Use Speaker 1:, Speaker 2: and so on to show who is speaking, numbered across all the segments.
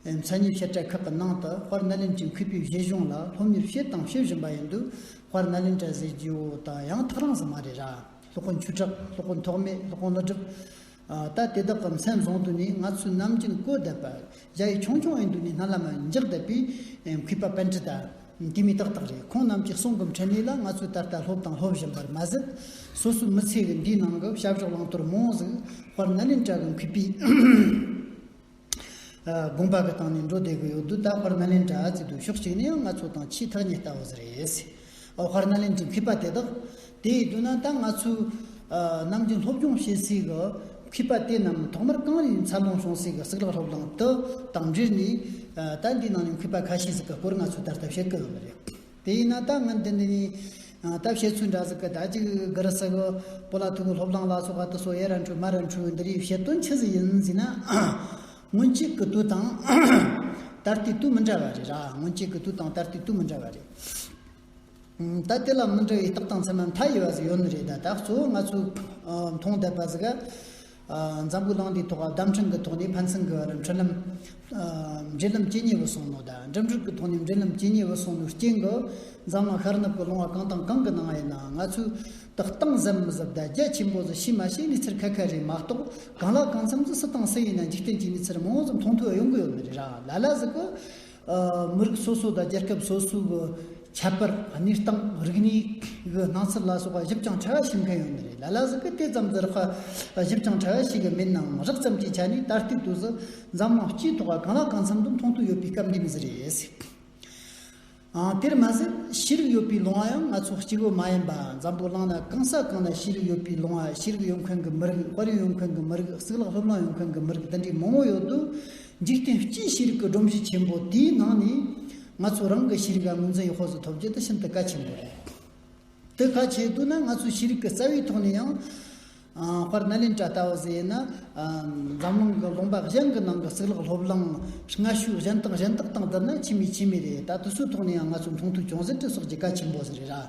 Speaker 1: མཚན་ཉིད་བཤད་གྲྭའི་ཁག་གི་ནང་དུ་དཔར་སྣ་ལེན་གྱི་མཁས་པའི་བཞེད་གཞུང་ལ་སློབ་གཉེར་བྱས་དང་བྱེད་བཞིན་པ་ཡིན་དུས་དཔར་སྣ་ལེན་གྲྭའི་ཟས་བརྗེའོ་དང་ཡང་ཐག་རིང་སོང་མ་རེད་ར། སློབ་དཔོན་ཆོས་གྲགས་སློབ་དཔོན་ཐོགས་མེད་སློབ་དཔོན་བློ་གྲུབ། ད་དེ་དག་གི་མཚན་བཟང་དུ་ནི་ང་ཚོས་ནམ་རྒྱུན་བཀོད་བསྡད་པ། རྒྱ་ཡིག་ཆུང་ཆུང་ཨེ་འདུག་ནི་སྣ་ལ་མ་འཇགས་བསྡད་པས་མཁས་པ་པན་ཀྲི་ཏཱ། དེ་མི་ཏག་ཏག་རེད་ཁོང་རྣམས་ཀྱི་གསུང་གི་འཕྲིན་ལས་ལ་ང་ཚོས་ད་ལྟ་སློབ་དང་སློབ་བཞིན་པར་མ་ཟད། སོ་སོའི་མི་ཚེ་གི་འདིའི་ནང་གི་བྱ་བཞག་བླང་དོར་མང་གཟུགས་དཔར་སྣ་ལེན་གྲྭ་གི་མཁས་པའི། དགོངས་པ་གི་སྟེང་ནས་འགྲོ་བསྡད་གི་ཡོད་དུས་ད་བར་ནཱ་ལེནྡྲ་གི་འདུག་ཕྱོགས་གཅིག་ནས་ཡང་ང་ཚོ་དང་ཆེས་ཐག་ཉེ་ལྟ་བུ་ཟེར་ཡས་སྲིད། ཨོ་བྷར་ནཱ་ལེནྡྲའི་མཁས་པ་དེ་དག་དེ་ཡི་དུས་ན་ད་ང་ཚོའི་ནང་གི་སློབ་སྦྱོང་བྱེད་སའི་གི་མཁས་པ་དེ་རྣམས་ཐོག་མར་གངས་རིའི་མཚར་ལོངས་བྱུང་སའི་གི་གསེག་ལག་སློབ་གླིང་དུ་དང་འབྲེལ་ནས་ད་འདིའི་ནང་ནས་མཁས་པ་ཁ་ཤས་ཟིག་གི་སྐོར་ང་ཚོས་ད་ལྟ་བཤད་གི་ཡོད་མ་རེད། དེ་ཡིན་ན་ད་ང་འདི་འདི་ནི། ད་བཤད་ཚུལ་འདྲ་ཟིག་གི་ད་ཅིག་གི་རི་ཟིག། པོ་ལ་ཐུག་གི་ལྷོ་བླངས་ལ་སོགས་ཨ་ཏི་སོགས་ཡེ་ར་འཕྲུལ་མ་ར་འཕྲུལ་འདི་རིགས་བཤད་དོན་ཅི་ཟིག་ཡིན་ཟིག་ན། སྔོན་གཅིག་གི་དུས་དང། ད་ལྟའི་དུས་མི་འདྲ་བ་རེད་ར་སྔོན་གཅིག་གི་དུས་དང་ད་ལྟའི་དུས་མི་འདྲ་བ་རེད། ད་དེ་ལ་མི་འདྲ་བའི་རྟགས་དང་མཚན་མ་མཐའ་ཡས་པ་ཟིག་ཡོད་ནི་རེད་ད་ད་གཙོ་བོ་ང་ཚོས་མཐོང་བསྡད་པ་ཟིག་ག། འཛམ་བུའི་གླིང་འདིའི་ཐོག་བརྡ་འཕྲིན་གྱི་ཐོག་ནས་ཕན་ཚུན་གྱི་བར་འཕྲིན་ལམ། འབྲེལ་ལམ་ཇི་སྙེད་པ་སོང་ནོ་དང་འགྲིམ་འགྲུལ་གྱི་ཐོག་ནས་འབྲེལ་ལམ་ཇི་སྙེད་པ་སོང་ནོའི་རྐྱེན་གྱིས་འཛམ་གླིང་ཤར་ནུབ་ཀྱི་ཀློང་བ་གང་དང་གང་གི་ནང་ཡིན་ནའང་ང་ཚོས་ཏག་གཏང་གཟབ་མི་གཟབ་བརྡ་རྒྱ་ཆེན་པོ་བཟོ་ཤེས་མ་ཤེས་ནི་ཚུར་ཁ་ཁ་རེད་མ་གཏོགས་གང་ལ་གང་འཚམ་གྱི་སུ་དང་སུ་ཡིན་ན་འཇིག་རྟེན་གྱི་མི་ཚེར་མང་ཙམ་མཐོང་ཐོས་ཡོང་གི་ཡོད་མི་རེད་ར་ལ་ལ་ཟིག་གི། མི་རིགས་སོ་སོ་དང་རྒྱལ་ཁབ་སོ་སོའི་གི་ཁྱད་པར་གནས་སྟངས་རིག་གནས་གི་སྣང་ཚུལ་ལ་སོགས་པ་ཞིབ་ཅིང་ཕྲ་བ་ཞིབ་མཁན་ཡོད་ནི་རེད་ལ་ལ་ཟུ་གི་དེ་ཙམ་ཟེར་ཧ་ཞིབ་ཅིང་ཕྲ་བ་ཞིག་གི་མིན་ནའང་རགས་ཙམ་གྱི་ཆ་ནས་ད་ལྟའི་དུས་སུ་འཛམ་གླིང་སྤྱིའི་ཐོག་ག་གང་ལ་གང་འཚམ་དུ་མཐོང་ཐོས་ཡོད་པའི་སྐབས་འདི་མི་ཟེར་ཡས་སྲིད་ཨང་དེར་མ་ཟད་ཤེས་རིག་ཡོད་པའི་ལུང་བ་ཡང་ང་ཚོ་སྐྱེ་བོ་མ་ཡིན་པ་འཛམ་བུ་གླིང་ན་གང་ས་གང་ན་ཤེས་རིག་ཡོད་པའི་ལུང་བ་ཤེས་རིག་ཡོད་མཁན་གི་མི་རིགས་དཔལ་ཡོན་ཡོད་མཁན་གི་མི་རིགས་གཙུག་ལག་སློབ་གླིང་ཡོད་མཁན་གི་མི་རིགས་འདི་འདྲའི་མང་བོ་ཡོད་དུས་འཇིག་རྟེན་སྤྱིའི་ཤེས་རིག་གི་སྒྲོམ་གཞི་ཆེན་པོ་དེའི་ནང་ནས། ང་ཚོ་རང་གི་ཤེས་རིག་ལ་ངོས་འཛིན་ཡག་ཧོར་ཟོ་ཐོབ་རྒྱུ་དེ་ཤིན་ཏུ་གལ་ཆེན་པོ་རེད། དེ་ག་བྱེད་དུས་ན་ང་ཚོའི་ཤེས་རིག་གི་རྩ་བའི་ཐོག་ནས་ཡང། དཔར་ན་ལེན་གྲྭ་ལྟ་བུ་ཟེར་ན། འཛམ་གླིང་གི་ལུང་པ་གཞན་གྱི་ནང་གི་གཙུག་ལག་སློབ་གླིང། སྔ་ཤོས་གཞན་དང་གཞན་དག་དང་བསྡུར་ན་ཆེས་མི་ཆེས་མི་རེད་ད་དུས་ཚོད་ཐོག་ནས་ཡང་ང་ཚོའི་མཐོང་ཐོས་ཅུང་ཟད་དེ་སོགས་ཀྱི་གལ་ཆེན་པོ་ཟེར་རེད།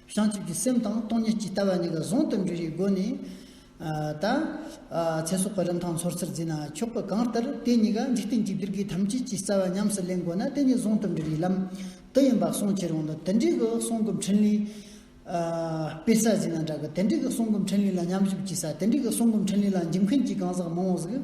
Speaker 1: བྱང་ཆུབ་ཀྱི་སེམས་དང་སྟོང་ཉིད་ཇི་ལྟ་བ་གཉིས་ཀ་གཟུང་དུ་འཇུག་བཞིའི་སྒོ་ནས། ད། ཚེ་སྲོག་གི་རིན་ཐང་ཚོར་ཚུལ་འཛིན་ན་ཆོག་གི་གང་ལྟར་དེ་གཉིས་ཀ་འཇིག་རྟེན་གྱི་བདུད་བགེགས་ཐམས་ཅད་ཀྱི་རྩ་བ་ཉམས་སུ་ལེན་དགོས་ན་དེ་གཉིས་གཟུང་དུ་འབྲེལ་བཞིའི་ལམ་དུ་ཡིན་པ་གསུངས་ཕྱིར་འོང་དུ་དེ་འབྲེལ་གྱི་གསུང་གི་འཕྲིན་ལས། དཔེ་གསར་བཞིན་ལ་འདྲ་གི་དེ་འབྲེལ་གྱི་གསུང་གི་འཕྲིན་ལས་ལ་མཉམ་གཞུག་བགྱིས་ས་དེ་འབྲེལ་གྱི་གསུང་གི་འཕྲིན་ལས་ལ་འཇིམ་མཁན་གྱི་གང་ཟག་མང་བོ་ཟིག།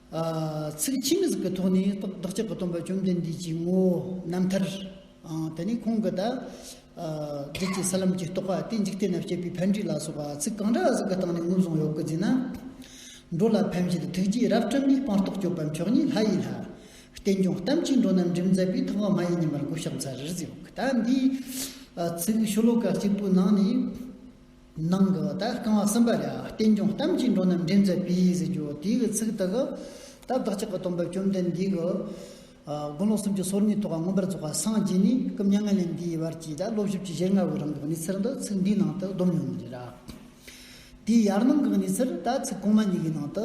Speaker 1: ཚིག་ཕྱི་མི་གཟིགས་པའི་ཐོག་ནས་བདག་ཅག་གི་སྟོན་པ་བཅོམ་ལྡན་འདས་ཀྱི་ངོ་བོ་རྣམ་ཐར་དེ་ནི་ཁོང་གི་དག། རྗེས་ཀྱི་ས་ལམ་གྱི་རྟོགས་པ་སྟེ་འཇིག་རྟེན་ན་བཤད་པའི་ཕན་འབྲས་ལ་སོགས་པ་ཚིག་གང་འདྲ་ཞིག་གི་སྟེང་ནས་ངོས་བཟུང་ཡོད་དགོས་ཚེ་ན། འགྲོ་ལ་ཕན་བྱེད་ཐུགས་རྗེའི་རབ་བཀྲམ་པའི་སྤངས་རྟོགས་སྤྱོད་པ་མཆོག་ཉིད་ལྷ་ཡི་ལྷ། བསྟན་སྐྱོང་གཏམ་གྱི་འགྲོ་རྣམས་འགྲིམ་མཛད་པའི་ཐོག་མ་མ་ཡིན་ཉི་མར་གོ་ཤོག་ཚ་རེར་གཟིགས། ཟླ་འདིའི་ཚིག་ཤོ་ལོ་ཀ་གཅིག་པོའི་ནང་ནས། ནང་གི་ད་རྐང་བ་གསུམ་པ་ལ་རྟེན་འབྱུང་གཏམ་གྱིས་འགྲོ་རྣམས་འདྲེན་མཛད་པས་ཟེར་རྒྱུ་དེ་གི་ཚིག་དག་གི་ད་བདག་ཅག་གི་སྟོན་པ་བཅོམ་ལྡན་འདས་ཀྱི། དགུང་ལོ་སུམ་ཅུ་སོ་གཉིས་ཐོག་ཁ་མངོན་པར་རྫོགས་པ་སངས་རྒྱས་ནས་སྐུ་མྱ་ངན་ལས་འདས་བར་གྱི་ད་བློ་བཞི་བཅུ་ཞེ་ལྔ་བའི་རིང་གི་གནས་ཚུལ་འདི་ཚིག་འདིའི་ནང་དུ་བསྡོམས་ཡོད་ནི་རེད། དེའི་ཡར་ནང་གི་གནས་ཚུལ་ད་ཚིག་གོང་མ་གཉིས་ཀྱི་ནང་དུ་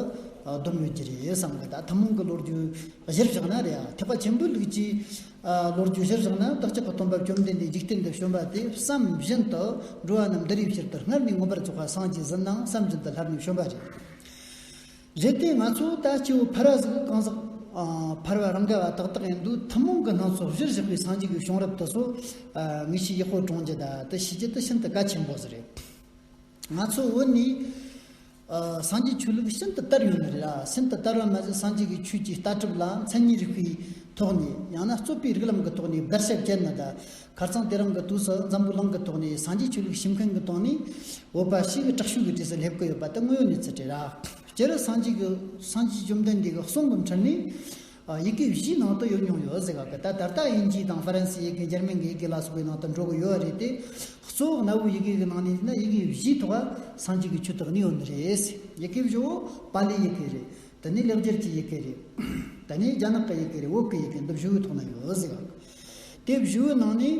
Speaker 1: བསྡོམས་ཡོད་ཀྱི་རེད་བསམ་གི་ད་ཐུན་མོང་གི་ལོ་རྒྱུས་གཞིར་བཞག་ན་རེད་ཨ་ཐེག་པ་ཆེན་པོའི་ལུགས་ཀྱིས་ལོ་རྒྱུས་གཞིར་བཞག་ན་བདག་ཅག་གི་སྟོན་པ་བཅོམ་ལྡན་འདས་འཇིག་རྟེན་དུ་བྱོན་པ་དེ་བསམ་བཞིན་དུ་འགྲོ་བ་རྣམས་འདི་རིགས་ཕྱིར་དུ་སྔར་ནས་མངོན་པར་རྫོགས་པ་སངས་རྒྱས་གཟི་སྣང་བསམ་བཞིན་དུ་ལྷར་ནས་བྱོན་པ་རེད། གལ་ཏེ་ང་ཚོ་ད་སྐྱེ་བོ་ཕར་བ་ཟིག་གང་ཟག་ཕར་བ་རང་ག་བ་ཏག་ཏག་ཡིན་དུས་ཐུན་མོང་གི་སྣང་ཚུལ་གཞིར་བཞག་པའི་སངས་རྒྱས་ཀྱི་གཞུང་རབ་ཏུ་སོ། ངེས་ཤེས་ཡེ་ཤུ་སྦྲང་རྒྱུད་དག་ཏུ་ཤེས་རྒྱུ་དེ་ཤིན་ཏུ་གལ་ཆེན་པོ་ཟིག་རེད། ང་ཚོ་བོད་ནི། སངས་རྒྱས་ཆོས་ལུགས་ཤིན་ཏུ་དར་ཡོད་ནི་རེད་ལ་ཤིན་ཏུ་དར་བ་མ་ཟད་སངས་རྒྱས་ཀྱི་ཆོས་ཀྱི་ལྟ་གྲུབ་ལ་མཚན་ཉིད་རིག་པའི་ཐོག་ནས་ཡང་ན་རྩོད་པའི་རིགས་ལམ་གྱི་ཐོག་ནས་བརྡར་ཤ་བཅད་ནི་དང་གར་ཚང་དེ་རང་གི་དུས་སུ་འཛམ་བུ་གླིང་གི་ཐོག་ནས་སངས་རྒྱས་ཆོས་ལུགས་ཞིབ་མཁན་གྱི་སྟེང་ནས་བོད་པ་ཞིག་གི་དྲག་ཤུགས་ཀྱི་གྲས་སུ་སླེབས་ཀྱི་ཡོད་པ་དེ་དངོས་ཡོད་གནས་ཚུལ་རེད། སྤྱིར་སངས་རྒྱས་ཀྱི་སངས་རྒྱས་བཅོམ་ལྡན་འདས་ཀྱི་གསུང་གི་འཕྲིན་ནི། ཡི་གེ་བཞི་ནང་དུ་ཡོད་མྱོང་ཡོད་ཟེར་ག་གི་ད་ད་ལྟ་དབྱིན་ཇི་དང་ཧྥ་རན་སི་ཡི་གེ་འཇར་མན་གྱི་ཡི་གེ་ལ་སོགས་པའི་ནང་དུ་འགྲོ་གི་ཡོད་རེད་དེ། གཙོ་བོ་གནའ་བོའི་ཡི་གེ་གི་ནང་ནས་ཡིན་ན་ཡི་གེ་བཞི་ཐོག་སངས་རྒྱས་ཀྱི་ཆོས་དག་ནི་ཡོད་ནི་རེད། ཡི་གེ་བཞི་བོ་པཱ་ལིའི་ཡི་གེ་རེད། དེ་ནི་ལེགས་སྦྱར་གྱི་ཡི་གེ་རེད། དེ་ནི་རྒྱ་ནག་གི་ཡི་གེ་རེད་འོག་གི་ཡི་གེ་འདི་བཞི་བོའི་ཐོག་ན་ཡོད་ཟེར་ག་གི། དེ་བཞི་བོའི་ནང་ནས།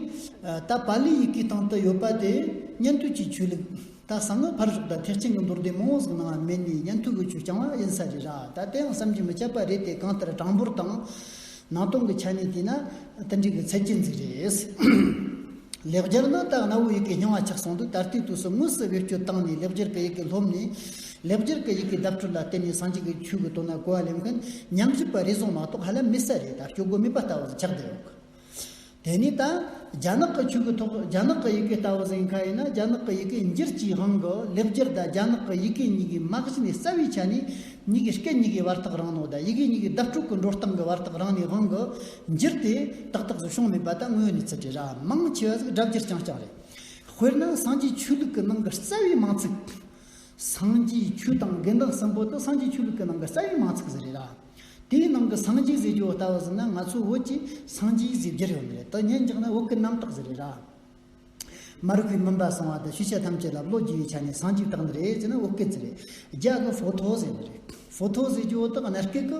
Speaker 1: ད་པ་ལི་ཡི་གེའི་སྟེང་དུ་ཡོད་པ་དེ་ཉན་ཐོས་ཀྱི་ཆོས་ལུགས། ད་གསང་སྔགས་ཕར་ཞོག་དང་ཐེག་ཆེན་གྱི་མདོར་བསྡུས་མང་བོ་ཟིག་ནང་མེད་ནས་ཉན་ཐོས་ཀྱི་ཆོས་རྐྱང་བ་ཡིན་ས་རེད་ར་ད་དེའང་བསམ་གྱིས་མི་ཁྱབ་པ་རེད་དེ་གང་ལྟར་གྲངས་འབོར་དང། ནང་སྟོང་གི་ཆ་ནས་བལྟས་ན། དེ་འགྲིག་གི་ཚད་ཅན་ཟིག་རེད། ལེགས་སྦྱར་ནང་དག་གནའ་བོའི་ཡི་གེ་རྙིང་བ་ཆགས་སོང་འདུག་ད་ལྟའི་དུས་སུ་དངོས་སུ་བེད་སྤྱོད་བཏང་ནས་ལེགས་སྦྱར་གྱི་ཡི་གེ་སློབ་ནས། ལེགས་སྦྱར་གྱི་ཡི་གེ་བརྡ་སྤྲོད་ལ་བརྟེན་ནས་སངས་རྒྱས་ཀྱི་ཆོས་ཀྱི་དོན་ལ་གོ་བ་ལེན་མཁན་ཉམས་གསོས་པ་རེ་ཟུང་མ་གཏོགས་ཧ་ལམ་མི་གསལ་རེད་ད་སྐྱོ་གོ་མིད་པ་ལྟ་བུར་ཆགས་བསྡད་ཡོང་གི། དེ་ནས་ད་རྒྱ་ནག་གི་ཆོས་ཀྱི་ཐོག་རྒྱ་ནག་གི་ཡི་གེ་ལྟ་བུ་ཟིན་ཁ་ཡིན་ན་རྒྱ་ནག་གི་ཡི་གེ་འགྱུར་གྱི་ཧང་གི་ལེགས་སྦྱར་དང་རྒྱ་ནག་གི་ཡི་གེ་གཉིས་ཀའི་མ་གཞི་ནས་རྩ་བའི་ཆ་ནས་གཉིས་ཀའི་སྐད་གཉིས་ཀའི་བར་ཐག་རང་ནོ་དང་ཡི་གེ་གཉིས་ཀའི་བརྡ་སྤྲོད་ཀྱི་འགྲོ་སྟངས་ཀྱི་བར་ཐག་རང་ནས་ཧང་གི་འགྱུར་དེ་ཏག་ཏག་བཟོ་བྱུང་མེད་པ་ད་དངོས་ཡོད་གནས་ཚུལ་དེ་རང་མང་ཆེ་བ་ཟིག་སྒྲ་བསྒྱུར་རྐྱང་རྐྱང་རེད་དཔེར་ན་སངས་རྒྱས་ཆོས་ལུགས་ཀྱི་ནང་གི་རྩ་བའི་མང་ཚིག་སངས་རྒྱས་ཆོས་དང་དགེ་འདུན་གསུམ་པོ་དང་སངས་རྒྱས་ཆོས་ལུགས་ཀྱི་ནང་གི་རྩ་བའི་མང་ཚིག་ཟེར་རེད་ད། དེའི་ནང་གི་སངས་རྒྱས་ཟེར་རྒྱུ་ལྟ་བུ་ཟིན་ན་ང་ཚོའི་བོད་ཀྱི་སངས་རྒྱས་ཟེར་རྒྱུ་རེད་འོན་ཏེ་དེ་ཉན་རྒྱག་ན་བོད་ཀྱི་རྣམ་དག་ཟེར་རེད་ད། མར་ཁུའི་མུན་པ་སངས་བ་དང་ཤུལ་བྱ་ཐམས་ཅད་ལ་བློ་རྒྱུ་བའི་ཆ་ནས་སངས་རྒྱས་དག་འདི་རེད་ཟེར་ན་བོད་སྐད་ཟེར་རེད་རྒྱ་གི་ཕོ་ཐོ་ཟེར་རེད་ཕོ་ཐོ་ཟེར་རྒྱུ་འོ་དག་གནའ་སྐད་ཀྱི་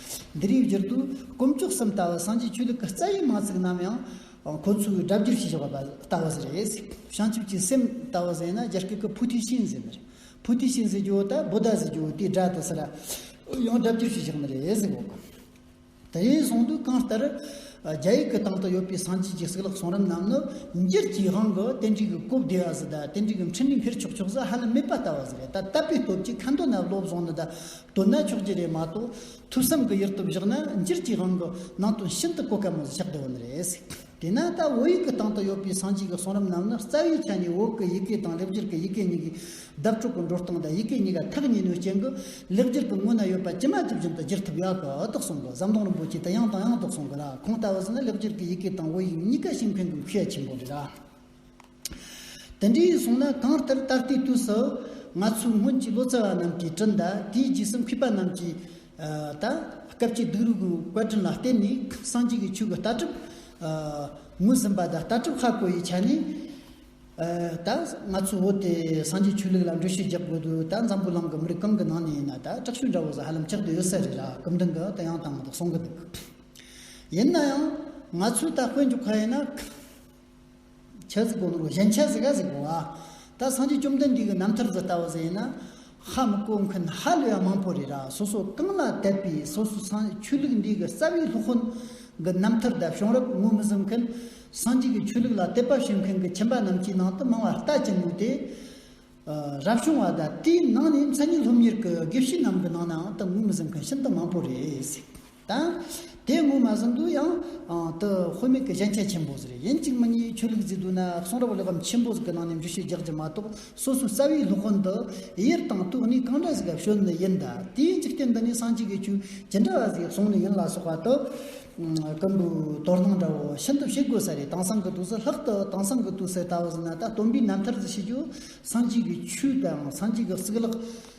Speaker 1: འདི་རིགས་བསྒྱུར་དུས་དཀོན་མཆོག་གསུམ་ལྟ་བུ་སངས་རྒྱས་ཆོས་ལུགས་ཀྱི་རྩ་བའི་མང་ཚིག་རྣམས་ཡང་ཁོ་ཚོས་སྒྲ་བསྒྱུར་བྱས་ཆོག་པ་ལྟ་བུ་ཟེར་རེད། བྱང་ཆུབ་ཀྱི་སེམས་ལྟ་བུ་ཟེར་ན་རྒྱ་སྐད་ཀྱི་བྷུ་དྷི་ཤིང་ཟེར་མི་རེད། བྷུ་དྷི་ཤིང་ཟེར་རྒྱུ་དང་བུ་ད་ཟེར་རྒྱུ་དེའི་སྒྲ་དེ་སུ་ལ་ཡང་སྒྲ་བསྒྱུར་བྱས་ཆོག་མི་རེད་ཟེར་གོ། དེ་རིང་གསུང་དུས་གང་ལྟར་རྒྱ་ཡིག་གི་སྟེང་དུ་ཡོད་པའི་སངས་རྒྱས་ཀྱི་གསུག་ལག་གསུང་རིམ་རྣམས་ནི་འགྱུར་གྱི་དབང་གིས་རྟེན་འབྲེལ་གྱི་སྐུབ་བདེ་བ་ཟི་དང་རྟེན་འབྲེལ་གྱི་འཕྲིན་ལས་འཕེར་ཆོག་ཆོག་ཟི་ཧ་ལམ་མེད་པ་ལྟ་བུ་ཟི་རེད་ད་ལྟ་པའི་སྟོབས་ཀྱིས་ཁ་འདོན་ན་བློ་བཟང་ནི་ད་དོན་ན་ཆོག་གྱི་རེད་མ་གཏོགས་ཐུབ་བསམ་གྱི་ཡུལ་དུ་བཞག་ན་འགྱུར་གྱི་དབང་གི་ནང་དོན་ཤིན་ཏུ་གོ་དཀའ་མོད་ཆགས་བདེ་བོ་ནི་རེད། དེས་ན་ད་བོད་ཡིག་གི་སྟེང་དུ་ཡོད་པའི་སངས་རྒྱས་ཀྱི་གསུང་རབ་རྣམས་ནི་རྩ་བའི་ཆ་ནས་འོག་གི་ཡི་གེ་དང་ལེགས་སྦྱར་གྱི་ཡི་གེ་གཉིས་ཀྱི་གདགས་དྲུག་གི་འགྲོ་སྟངས་དང་ཡི་གེ་གཉིས་ཀ་ཐག་ཉེ་ནུས་ཅན་གྱི་ལེགས་སྦྱར་གྱི་ངོས་ན་ཡོད་པ་ཇི་མ་ཇི་བཞིན་དུ་བསྒྱུར་ཐུབ་ཡག་གི་ཨུ་ཐུག་གསུང་གི་ཟམ་གདོང་རིན་པོ་ཆེ་དེ་ཡང་དང་ཡང་དུ་གསུང་གི་ལ་གོང་ལྟ་བུ་ཟིན་ན་ལེགས་སྦྱར་གྱི་ཡི་གེ་དང་བོད་ཡིག་གཉིས་ཀ་ཤེས་མཁན་གྱི་མཁས་ཆེན་པོ་རེད། དེ་འདྲའི་གསུང་ན་གང་ལྟར་ད་ལྟའི་དུས་སུ། ང་ཚོའི་སྔོན་གྱི་ལོ་ཙཱ་བ་རྣམས་ཀྱིས་བྲིས་འདི་དེའི་རྗེས་སུ་འཁོད་པ་རྣམས་ཀྱིས། ད་སྐབས་ཀྱི་སྡུག་རུས་ཀྱི་བཀའ་དྲིན་ལ་བརྟེན་ནས་སངས་རྒྱས་ཀྱི་ཆོས་ཀྱི་ལྟ་གྲུབ། ངོས་ཟིན་པ་དང་ལྟ་གྲུབ་ཧ་གོ་ཡི་ཆ་ནས། ད་ང་ཚོས་འོ་དེ་སངས་རྒྱས་ཆོས་ལུགས་ལ་འགྲུལ་བཞུད་རྒྱག་དགོས་དུས་ད་འཛམ་བུ་གླིང་གི་མི་རིགས་གང་གི་ནང་ནས་ཡིན་ན་ད་དྲག་ཤུལ་འདྲ་བོ་ཟ་ཧ་ལམ་ཆགས་དུས་ཡོད་ས་རེད་ལ་སྐུ་མདུན་གྱི་དོན་ཡང་དང་མ་དག་གསུང་གི་འདུག། ཡིན་ན་ཡང་ང་ཚོས་ད་དཔེ་འཇོག་ག་ཡིན་ན། ཆོས་སྐུ་ལུགས་གཞན་ཆོས་ཟེར་ག་ཟེར་གོ། ད་སངས་རྒྱས་བཅོམ་ལྡན་འདས་ཀྱི་རྣམ་ཐར་དུ་ལྟ་བ་ཟེར་ན། ཧ་མི་གོ་མཁན་ཧ་ལས་ཡ་མང་པོ་རེད་ར་སོ་སོ་རྐང་ལག་བཏད་པའི་སོ་སོ་སངས་རྒྱས་ཆོས་ལུགས་འདི་གི་རྩ་བའི་སློབ་དཔོན་གི་རྣམ་ཐར་དག་བྱུང་རབས་ངོ་མི་གཟུང་མཁན། སངས་རྒྱས་ཀྱི་ཆོས་ལུགས་ལ་དད་པ་བྱེད་མཁན་གྱི་ཁྱིམ་པ་རྣམས་ཀྱི་ནང་དུ་མང་བ་ལྟ་ཅི་ནུས་དེ། རབ་བྱུང་བ་དང་དེའི་ནང་ནས་མཚན་ཉིད་སློབ་གཉེར་གྱི་དགེ་བཤེས་རྣམས་ཀྱི་ནང་ནའང་ད་ངོ་མི་གཟུང་མཁན་ཤིན་ཏུ་མང་པོ་རེད། དང། དེ་ངོ་མ་ཟིན་དུ་ཡང། དུ་དཔོན་མེད་ཀི་གཞན་ཁྱད་ཆེན་པོ་ཟེར་ཡིན་གཅིག་མི་གཉིས་ཆོས་ལུགས་རྫིག་དུ་ན་གསུང་རབ་གླེགས་བམ་ཆེན་པོ་ཟིག་གི་ནང་ནས་འབྲི་ཤོད་རྒྱག་རྒྱུ་མ་གཏོགས་སོ་སོའི་རྩ་བའི་སློབ་དཔོན་དུ་ཡེར་དང་ཏུ་ནི་གང་འདྲ་ཟིག་ག་ཤོད་ནི་ཡིན་ད་དེའི་འཇིག་རྟེན་འདི་ནི་སངས་རྒྱས་ཀི་ཆོས་ཇི་འདྲ་བ་ཟིག་གསུང་ནི་ཡིན་ལ་སོགས་པ་དུ། ཀི་འདུག་དོར་སྣང་འདྲ་བོ་ཤིན་ཏུ་ཤེས་དགོས་ས་རེད་དེང་སང་གི་དུས་སུ་ལྷག་ཏུ་དེང་སང་གི་དུས་སུ་ད་བཟི་ན་ད་སྟོན་པའི་རྣམ་ཐར་ཟིག་ཤེས་རྒྱུ་སངས་རྒྱས་ཀི་ཆོས་དང་སངས་རྒྱས་ཀི་གཙུག་ལག་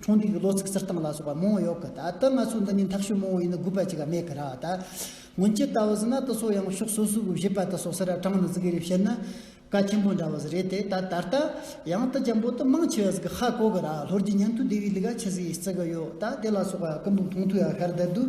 Speaker 1: གྲོང་སྡེ་གི་ལོ་ཚིགས་གསེར་ཐང་ལ་སོགས་པ་མང་བོ་ཡོད་གི་ད་ལྟ་ང་ཚོ་འདི་ནི་འཐག་ཤུལ་མང་བོ་ཡིན་ན་དགོས་པ་ཅིག་ག་མེད་གི་ར་ད། སྔོན་ཆད་ལྟ་བུ་ཟིན་ན་ད་སོ་ཡང་ཕྱོགས་སོ་སོའི་བཞེད་པ་ད་སོ་སེ་ར་གྲངས་ནི་ཟིག་གི་རེད་བཤད་ན། བཀའ་ཆེན་པོ་འདྲ་བ་ཟིག་རེད་དེ་ད་ད་ལྟ། ཡང་ད་འཇམ་པོ་ད་མང་ཆེ་བ་ཟིག་གི་ཧ་གོ་གི་ར་ལྷོར་རྗེ་ཉན་ཐོས་སྡེ་བའི་ལི་ག་ཆེ་ཟིག་ཡིས་བརྩི་གི་ཡོད་ད་དེ་ལ་སོགས་པ་ཀུན་དུ་མཐོང་ཐོས་ཡ་ཤར་བསྡད་འདུག།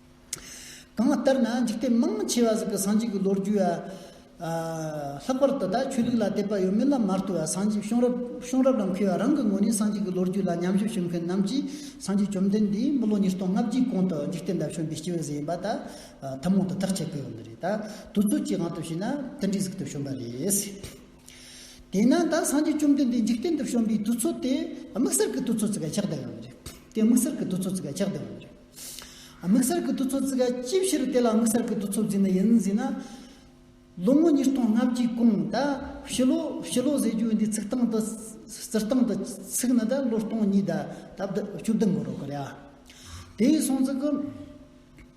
Speaker 1: གང་ལྟར་ན་འཇིག་རྟེན་མང་ཆེ་བ་ཟིག་གི་སངས་རྒྱས་ཀྱི་ལོ་རྒྱུས་ལ། ལྷག་པར་དུ་བདག་ཆོས་ལུགས་ལ་དད་པ་ཡོད་མེད་ལ་མ་ལྟོས་བར་སངས་རྒྱས་གཤོང་རབ་གཤོང་རབ་རང་ཁེ་བ་རང་གི་ངོས་ནས་སངས་རྒྱས་ཀྱི་ལོ་རྒྱུས་ལ་ཉམས་ཞིབ་ཞུ་མཁན་རྣམས་ཀྱིས་སངས་རྒྱས་བཅོམ་ལྡན་འདས་དམུ་ལོ་ཉིས་སྟོང་ལྔ་བརྒྱའི་གོང་དུ་འཇིག་རྟེན་པ་བྱོན་པའི་སྐྱེས་བུ་ཟིག་ཡིན་པ་ད་ཐུན་མོང་དུ་ཐག་བཅད་དགོས་ཡོད་འདི་རེད། དུས་ཚོད་ཀྱི་དབང་དུ་བྱས་ན་དེ་འདྲའི་ཟིག་ཏུ་བྱོན་པ་རེད། དེས་ན་ད་སངས་རྒྱས་བཅོམ་ལྡན་འདས་འཇིག་རྟེན་དུ་བྱོན་པའི་དུས་ཚོད་དེ་དམིགས་བསལ་གྱི་དུས་ཚོད་ཟིག་ཆགས་བསྡད་ཡོད་འདི་རེད། དེ་དམིགས་བསལ་གྱི་དུས་ཚོད་ཟིག་ཆགས་བསྡད་ཡོད་འདི་རེད། དམིགས་བསལ་གྱི་དུས་ཚོད་བརྩི་ག་ཅིའི་ཕྱིར་དེ་ལ་དམིགས་བསལ་གྱི་དུས་ཚོད་བརྩི་ནི་ཡིན་ཟེར་ན། ལོ་ངོ་ཉིས་སྟོང་ལྔ་བཅུའི་གོང་ད་ཕྱི་ལོ་ཕྱི་ལོ་ཟེར་རྒྱུ་འདི་ཚིག་སྟངས་དུ་སྤྱིར་བཏང་དུ་ཚིག་ནི་ད་ལོ་སྟོང་གཉིས་ད་ད་བདུན་བཅུ་བདུན་དགོས་རོགས་གི་རེད་ཨ། དེ་ཡི་སྲོང་ཚིག་གི།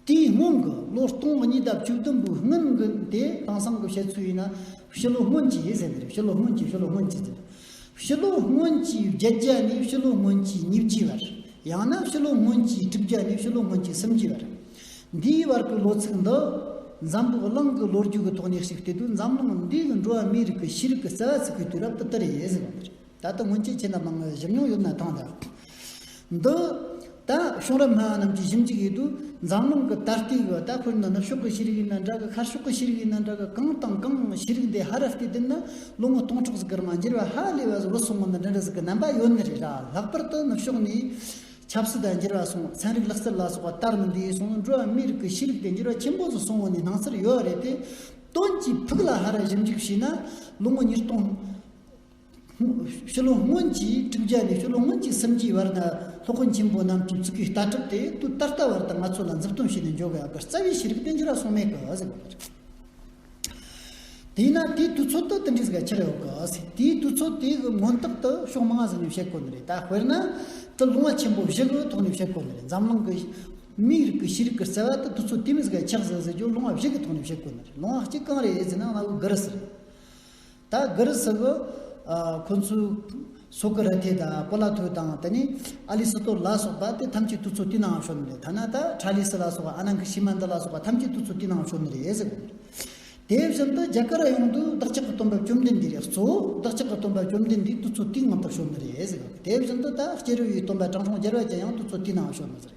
Speaker 1: དེའི་སྔོན་གྱི་ལོ་སྟོང་གཉིས་ད་བཅུ་བདུན་པོའི་སྔོན་གྱི་དེ་དེང་སང་གི་བཤད་ཚུལ་ཡིན་ན། ཕྱི་ལོ་སྔོན་གྱི་ཟེར་གི་རེད་ཕྱི་ལོ་སྔོན་གྱི་ཕྱི་ལོ་སྔོན་གྱི་ཟེར། ཕྱི་ལོ་སྔོན་གྱི་བརྒྱད་བརྒྱ་ནས་ཕྱི་ལོ་སྔོན་གྱི་ཉིས་བརྒྱའི་བར། ཡང་ན་ཕྱི་ལོ་སྔོན་གྱི་དྲུག་བརྒྱ་ནས་ཕྱི་ལོ་སྔོན་གྱི་སུམ་བརྒྱའི་བར། འདིའི་བར་གྱི་ལོ་ཚིགས་འདི། འཛམ་བུ་གླིང་གི་ལོ་རྒྱུས་ཀྱི་ཐོག་ནས་གཅིག་བལྟས་དུས་འཛམ་གླིང་འདིའི་འགྲོ་བ་མིའི་རིགས་ཀྱི་ཤེས་རིག་གི་རྩ་བ་ཚུགས་པའི་དུས་རབས་དུ་དར་ཡོད། ད་ལྟ་སྔོན་ཆད་ཁྱེད་རྣམས་ནང་བཞུར་མྱོང་ཡོད་ན་ཐང་དང། འདུག། ད་གཞུང་རབ་སྨྲ་བ་རྣམས་ཀྱིས་ཞིབ་འཇུག་ཡོད་དུས་འཛམ་གླིང་གི་ད་ལྟའི་ཡོ་ད་ཁུལ་འདི་ནུབ་ཕྱོགས་ཀྱི་ཤེས་རིག་ཡིན་ན་འདྲ་གི་ཁར་ཕྱོགས་ཀྱི་ཤེས་རིག་ཡིན་ན་འདྲ་གི་གང་དང་གང་ཤེས་རིག་འདི་ཧ་ར་ལྟའི་དུས་ན་ལོ་ངོ་སྟོང་ཕྲག་གཟུགས་ཀར་མ་འགྱུར་བ་ཧ་ལས་བ་བཟོ་སོང་ངོ་ན་འདི་འདྲ་ཟིག་གི་རྣམ་པ་ཡོད་ནི་རེད་གྲྭ་ལྷག་པར་དུ་ནུབ་ཕྱོགས་ནས་ཆབ་སྲིད་དང་འགྱུར་བ་སོང་ཚན་རིག་ལག་རྩལ་ལ་སོགས་པ་དར་མི་འདི་སོང་ནི་འགྲོ་བ་མིའི་རིགས་ཀྱི་ཤེས་རིག་དེ་འགྱུར་བ་ཆེན་པོ་བཟོ་སོང་ངོ་ནི་སྣང་ཚུལ་ཡོད་རེད་དེ་དོན་གྱིས་ཕུགས་ལ་ཧ་ར་ཞིབ་འཇུག་བྱས་ན་ལོ་ངོ་ཉིས་སྟོང་ཤུ་ལོ་སྔོན་གྱིས་བསྒྲུབ་བྱ་ནི་ཤུ་ལོ་སྔོན་གྱི་སེམས་ཀྱི་བར་ན་ལྷོ་ཁོ་ཆེན་པོ་རྣམས་ཀྱི་གཙུག་གི་ལྟ་གྲུབ་སྟེ་དུས་ད་ལྟ་བར་དུ་ང་ཚོ་ལ་མཛུབ་སྟོན་བྱས་ནས་འཇོག་དགོས་ཡག་གི་རྩ་བའི་ཤེས་རིག་བསྟན་བཅོས་རགས་སོང་མེད་གི། དེས་ན་དེའི་དུས་ཚོད་དུ་དེ་འདྲའི་ཟེར་བ་ཆེར་ཡོད་གི། དེའི་དུས་ཚོད་དེ་གི་མངོན་རྟགས་དུ་ཕྱོགས་མང་ཟིན་ནས་བཤད་དགོས་ནི་རེད་ད་དཔེར་ན། དུ་ལུང་བ་ཆེན་པོ་བཞི་གི་ཐོག་ནས་བཤད་དགོས་ནི་རེད་འཛམ་གླིང་གི་མིའི་རིགས་ཀྱི་ཤེས་རིག་གི་རྩ་བ་དུ་དུས་ཚོད་དེ་མི་ཟེར་གི་ཆགས་ཟེར་ཟེར་རྒྱུ་ལུང་བ་བཞི་གི་ཐོག་ནས་བཤད་དགོས་ནི་རེད་ལུང་བ་གཅིག་གང་རེད་ཟེར་ན་གནའ་བོའི་སྒར་ཟེར། ད་གི་རུ་སི་གི། ཁོ་ཚོའི། སོ་ཀི་ར་ཐེ་དང་པོ་ལ་ཐོས་དང་དེ་ནས། ཨ་ལི་སི་ཏོར་ལ་སོགས་པ་དེ་ཐམས་ཅད་ཏུ་ཚོ་ཏི་ནའང་ཤོར་ནི་རེད་ཐ་ན་ད་ཁྲ་ལི་སི་ལ་སོགས་ཨ་ནང་གི་ཤི་མ་འདི་ལ་སོགས་པ་ཐམས་ཅད་ཏུ་ཚོ་ཏི་ནའང་ཤོར་ནི་རེད་ཟེར་གི་འདུག་དེ་བཞིན་དུ་རྒྱ་གར་ར་ཡོངས་དུ་བདག་ཅག་གི་སྟོན་པ་བཅོམ་ལྡན་འདས་རིགས་གཙོ་བོ་བདག་ཅག་གི་སྟོན་པ་བཅོམ་ལྡན་འདས་ཏུ་ཚོ་ཏི་ངམ་པར་ཤོར་ནི་རེད་ཟེར་གི་འདུག་དེ་བཞིན་དུ་ད་སྐྱེ་རུ་ཡི་སྟོན་པ་དྲང་སྲོང་རྒྱལ་བ་ཅན་ཡང་ཏུ་ཚོ་ཏི་ནའང་ཤོར་ནི་རེད།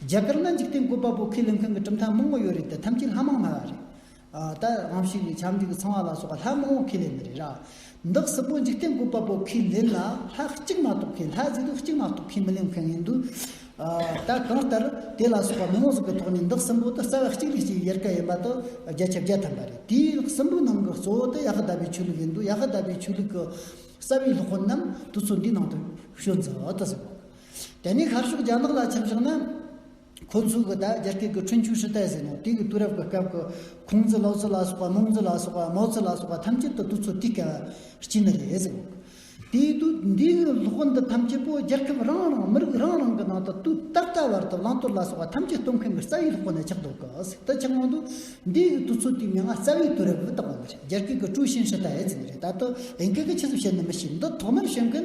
Speaker 1: རྒྱ་གར་ན་འཇིག་རྟེན་བཀོད་པ་པོ་ཁས་ལེན་མཁན་གྱི་གྲུབ་མཐའ་མང་བོ་ཡོད་རེད་དེ་ཐམས་ཅད་ལྷ་མང་སྨྲ་བ་རེད། ད་རང་ཕྱི་ནས་ཕྱམ་གཅིག་གི་ཚང་བ་ལ་སོགས་པ་ལྷ་མང་བོ་ཁས་ལེན་ནི་རེད། བདག་སྲིད་པོ་འཇིག་རྟེན་བཀོད་པ་པོ་ཁས་ལེན་ལ་ལྷ་གཅིག་མ་གཏོགས་མཁན་ལྷ་གཟིགས་དུས་གཅིག་མ་གཏོགས་མཁན་མི་ལེན་མཁན་ཡིན་དུས། ད་གང་ལྟར་དེ་ལ་སོགས་པ་མི་དབང་ཟིག་གི་ཐོག་ནས་བདག་སྲིན་པོ་དུ་རྩ་བ་གཅིག་ལས་གཅིག་ཡལ་ག་ཡིན་པ་དུ་བརྒྱ་ཆ་བརྒྱ་ཐམ་པ་རེད་དེའི་སྲིན་པོའི་ནང་གི་གཙོ་བོ་དུ་ཡ་ཧི་དཱ་པའི་ཆོས་ལུགས་ཡིན་དུས་ཡ་ཧི་དཱ་པའི་ཆོས་ལུགས་ཀྱི་རྩ་བའི་སློབ་དཔོན་རྣམས་དུ་ཚོད་འདིའི་ནང་དུ་ཤོད་མཛོད་དུ་གསུངས། དེ་ནས་ཤར་ཕྱོགས་རྒྱ་ནག་ལ་ཁྱབ་ཕྱོགས་ན། ཁོ་ཚོས་གི་ད་རྒྱ་སྐད་ཀྱི་ཁྲུན་ཆུང་ཧྲི་ཏའེ་ཟེར་ནོ་དེ་གི་དུས་རབས་ཀྱི་སྐབས་ཀྱི་ཁུང་ཙི་ལོ་ཙི་ལ་སོགས་པ་མོང་ཙི་ལ་སོགས་པ་མའོ་ཙི་ལ་སོགས་པ་ཐམས་ཅད་དུ་དུས་ཚོད་དེ་གའི་དཀྱིལ་ན་རེད་ཟེར། དེའི་དུས་འདི་གི་སློབ་དཔོན་འདི་ཐམས་ཅད་པོ་རྒྱལ་ཁབ་རང་རང་མི་རིགས་རང་རང་གི་ནང་དུ་དུས་ད་ལྟ་བར་དུ་བླང་དོར་ལ་སོགས་པ་ཐམས་ཅད་སྟོན་མཁན་གྱི་རྩ་བའི་སློབ་དཔོན་ནི་ཆགས་འདུག་གི་ཟེར་དུ་ཆགས་མོང་འདུག་འདི་གི་དུས་ཚོད་དེ་མྱ་ངན་རྩ་བའི་དུས་རབས་བཏགས་པ་འདི་རྒྱ་སྐད་ཀྱི་ཀྲུའུ་ཞིན་ཧྲི་ཏའེ་ཟེར་ནི་རེད་ད་དུ་དབྱིན་སྐད་ཀྱི་ཆེད་དུ་བཤད་ནི་མི་ཤེས་འདི་ཐོག་མར་བཤད་མཁན་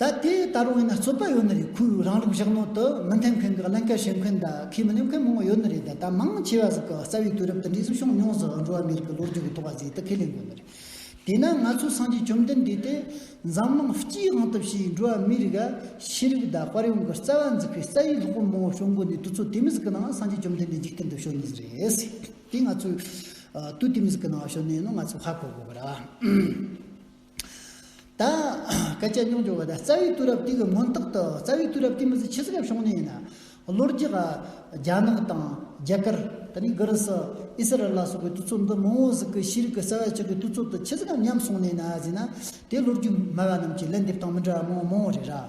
Speaker 1: ད་དེ་ལྟར་འོན་ན་རྩོད་པ་ཡོད་ནི་རེད་ཁོས་རང་རིགས་བཞག་ནོར་དུ་མི་འཐེན་མཁན་གྱི་ཀླན་ཀ་བྱེད་མཁན་དང་ཁས་མི་ལེན་མཁན་མང་བོ་ཡོད་ནི་རེད་ད་ལྟ་མང་ཆེ་བ་ཟིག་གི་རྩ་བའི་དུས་རབས་དེ་འདྲའི་གཟིགས་སྐྱོང་ཉུང་ཟིག་འགྲོ་བ་མི་རིགས་ཀྱི་ལོ་རྒྱུས་ཀྱི་ཐོག་ག་ཟིག་ད་ཁས་ལེན་དགོས་ནི་རེད། དེས་ན་ང་ཚོའི་སངས་རྒྱས་བཅོམ་ལྡན་འདས་དེ་འཛམ་གླིང་སྤྱིའི་དབང་དུ་བྱས་འགྲོ་བ་མི་རིགས་ལ་ཤེས་རིག་དང་དཔར་ཡོང་གི་རྩ་བ་འཛུགས་པའི་རྩ་བའི་སློབ་དཔོན་མང་བོ་བྱུང་དགོས་ནི་དུས་ཚོད་དེ་མི་ཟིག་གི་ནང་སངས་རྒྱས་བཅོམ་ལྡན་འདས་འཇིག་རྟེན་དུ་བྱོན་ནི་ཟིག་རེད། དེ་ང་ཚོས་དུས་དེ་མི་ཟིག་གི་ནང་བྱོན་ནི་ཡིན་ནོ་ང་ཚོས་ཧ་གོ་དགོས་པ་རེད། དང། སྐད་ཆ་རྙོག་འཇོག་བ་དང་རྩ་བའི་དུས་རབས་དེ་གི་སྔོན་རྟགས་དུ་རྩ་བའི་དུས་རབས་དེ་མི་ཚེ་ཆེ་སྐབས་བྱུང་ནས་ཡིན། ལོ་རྒྱུས་ལ། རྒྱ་ནག་དང། རྒྱ་གར། ད་ནི་གྷི་རི་སི། ཨི་སི་རལ་ལ་སོགས་པའི་དུས་ཚོད་འདི་མི་འོང་ཟིག་གི་ཤེས་རིག་གི་རྩ་བ་ཆགས་པའི་དུས་ཚོད་དུ་ཆེ་སྐབས་ཉམས་སོང་ནས་ན་ཟིན་ན། དེ་ལོ་རྒྱུས་སྨྲ་བ་རྣམས་ཀྱི་ལན་འདེབས་སྟངས་མི་འདྲ་བ་མང་མང་རེད་ར།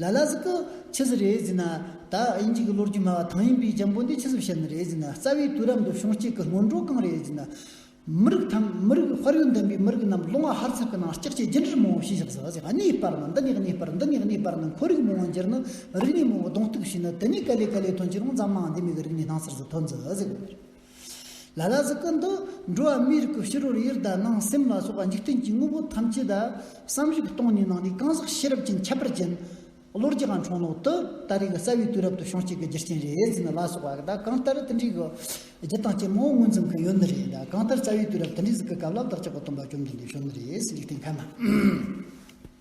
Speaker 1: ལ་ལ་ཟིག་གི། ཆི་ཟི་རེད་ཟིན་ན། ད་དབྱིན་ཇིག་གི་ལོ་རྒྱུས་སྨྲ་བ་ཐང་ཡིན་པའི་རྒྱ་འབོ་འདི་ཆི་ཟི་བཤད་ནི་རེད་ཟིན་ན་རྩ་བའི་དུས་རབས་འདི་བྱུང་སྐྱེས་ཀི་སྔོན་འགྲོ་གང་རེད་ཟིན་ན། མི་རིགས་ཐམ་མི་རིགས་དཔར་ཡུལ་འདེམས་པའི་མི་རིགས་རྣམས་སློང་བ་ཧར་ཚག་གི་ནང་སྐྱག་ཆས་རྒྱུན་འབྲུར་མང་བོ་ཞིག་བཞག་ཟ་ཟིག་གནས་སྤར་ན་འདི་ནས་གནས་སྤར་འདི་ནས་གནས་སྤར་ནི་འཁོར་རིགས་མང་བོ་འགྱུར་ནི་རིག་གནས་མང་བོ་གདོང་གཏུག་བྱས་ནི་དེ་ནས་ག་ལེ་ག་ལེ་ཐོན་ཁྱེད་རང་ཛམ་དམངས་འདི་མིག་གི་རིག་གནས་སྣང་སར་ཟིག་ཐོན་ཟ་ཟིག། ལ་ལ་ཟི་ཀུན་ཏུ། འགྲོ་བ་མིའི་རིགས་ཀྱི་ཕྱི་རོལ་ཡུལ་དང་ནང་སེམས་ལ་སོགས་པ་འཇིག་རྟེན་གྱི་དངོས་པོ་ཐམས་ཅད་དང། བསམ་གཞིག་སྟོང་ཉིད་ནང་ནས་གང་ཟག་ཤེས་རབ་ཀྱི་ཁྱད་པར་ཅན། བློ་རྒྱ་གང་འཕྲོག་ནོག་ཏུ་ལྟ་རིག་རྩ་བའི་དུས་རབ་ཏུ་ཤོང་བྱེད་ཀྱི་རྒྱུ་རྐྱེན་རེ་ཟིན་ལ་སོགས་པ་དང་གང་ལྟར་དེ་འདྲའི་རྒྱུ་དང་རྐྱེན་མང་བོ་མངོན་འཛིན་གྱི་ཡོད་ནི་རེད་གང་ལྟར་རྩ་བའི་དུས་རབ་དེ་འདྲའི་གཟིགས་ཀྱི་སྐབས་ལ་བདག་ཅག་གི་སྟོན་པ་བཅོམ་ལྡན་འདས་བྱོན་ནི་རེད་ཟེར་རྒྱུ་དེ་ག་ན།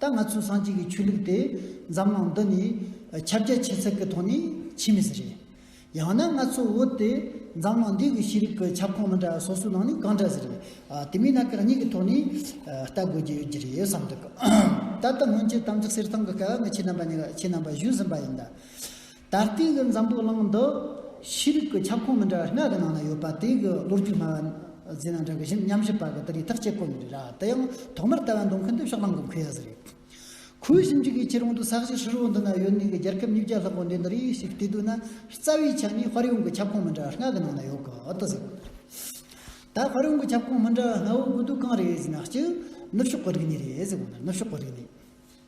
Speaker 1: ད་ང་ཚོའི་སངས་རྒྱས་ཀྱི་ཆོས་ལུགས་དེ་འཛམ་གླིང་འདི་ནས་ཁྱབ་རྒྱ་ཆེ་ཚད་ཀྱི་ཐོག་ནས་ཕྱིན་མི་སྲིད། ཡང་ན་ང་ཚོའི་བོད་དེ་འཛམ་གླིང་འདིའི་གི་ཤེས་རིག་གི་ཁྱབ་ཁོངས་མི་འདྲ་སོ་སོའི་ནང་ནས་གང་འདྲ་ཟེར། དེ་མིན་ན་གང་ཉིད་ཀྱི་ཐོག་ནས་ལྟ་དགོས་ཀྱི་ཡོད་ཀྱི་རེད་བསམ་འདུག་ད་ལྟ་སྔོན་ཆད་དམ་ཚིག་གསེར་ཐང་གི་སྐལ་བ་ངས་ཁྱེད་རྣམ་པ་གཉིས་ལ་ཁྱེད་རྣམ་པར་ཞུས་ཟིན་པ་ཡིན། ད་ལྟའི་གི་འཛམ་བུ་གླིང་འདི་ཤེས་རིག་གི་ཁྱབ་ཁོངས་མི་འདྲ་བ་ལྔ་གི་ནང་ན་ཡོད་པ་དེ་གི་ལོ་རྒྱུས་སྨྲ་བ་ཟེར་ན་འདྲ་གི་གཞན་ཉམས་ཞིབ་པ་གི་དེ་རིགས་ཐག་བཅད་དཀོན་རེད་ར་དེ་ཡང་ཐོག་མར་ལྟ་བ་འདོན་མཁན་དེ་ཕྱོགས་གླང་གི་མཁོན་ཡག་ཟེར་རེད་ཁོའི་ཞིབ་འཇུག་གི་ཁྱེད་རང་དུ་ས་གཞི་ཧྲིལ་བོ་འདི་ན་ཡོད་ནི་གི་རྒྱལ་ཁབ་ཉིས་བརྒྱ་ལྷག་པོ་འདི་འདི་རིགས་ཤིག་བལྟས་དུས་ན་རྩ་བའི་ཆ་ནས་དཔར་ཡོང་གི་ཁྱབ་ཁོངས་མི་འདྲ་བ་ལྔ་གི་ནང་ན་ཡོད་གི་ཏུ་ཟེར་ད་དཔར་ཡོང་གི་ཁྱབ་ཁོངས་མི་འདྲ་བ་ལྔ་བོ་དགོས་དུས་གང་རེད་ཟེར་ན་གཅིག་ནུབ་ཕྱོགས་གི་རིག་གནས་རེད་ཟེར་གོ་ནུབ་ཕྱོགས་གི་རིག་གནས།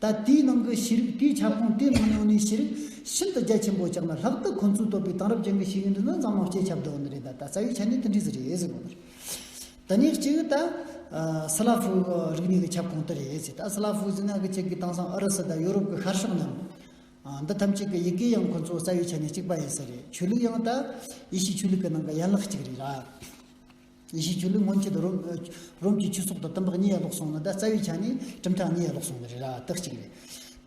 Speaker 1: ད་ལྟའི་ནང་གི་ཤེས་རིག་པའི་ཁྱབ་ཁོངས་དེ་མི་ཉུང་ནས་ཤེས་རིག་ཤིན་ཏུ་རྒྱ་ཆེན་པོ་ཆགས་ན་ལྷག་ཏུ་ཁོ་ཚོའི་བོད་པའི་དེང་རབས་ཅན་གྱི་ཤེས་ཡོན་འདི་ནི་འཛམ་གླིང་སྤྱིའི་ཁྱབ་སྒྲོག་འདི་རེད་ད་ལྟ་རྩ་བའི་ཆ་ནས་དེ་འདྲས་རེད་ཟེར་དགོས་པ་རེད། དེ་ཉིད་གཅིག་ད་སི་ལཱ་ཧྥུ་རིག་གནས་ཀྱི་ཁྱབ་ཁོངས་དེ་རེད་ཟེར་ད་སི་ལཱ་ཧྥུ་ཟེར་ན་གཅིག་གིས་དེང་སང་ཨུ་རུ་སུ་དང་ཡོ་རོབ་ཀྱི་ཤར་ཕྱོགས་རྣམས། འདི་ཐམས་ཅད་ཀྱི་ཡི་གེ་ཡང་ཁོ་ཚོ་རྩ་བའི་ཆ་ནས་གཅིག་པ་ཡིན་ས་རེད་ཆོས་ལུགས་ཡང་ད་ཡེ་ཤུའི་ཆོས་ལུགས་ཀྱི་ནང་གི་ཡན་ལག་གཅིག་རེད། གཞིས་བྱུས་ལུགས་སྔོན་ཆད་དུ་རོམ་གྱི་ཆོས་ཚོགས་དང་དམ་པ་གཉིས་ཡར་ལོག་སོང་ལ་ད་རྩ་བའི་ཆ་ནས་གྲུབ་མཐའ་གཉིས་ཡར་ལོག་སོང་བ་རེད་ར་ལྟ་གཅིག་རེད།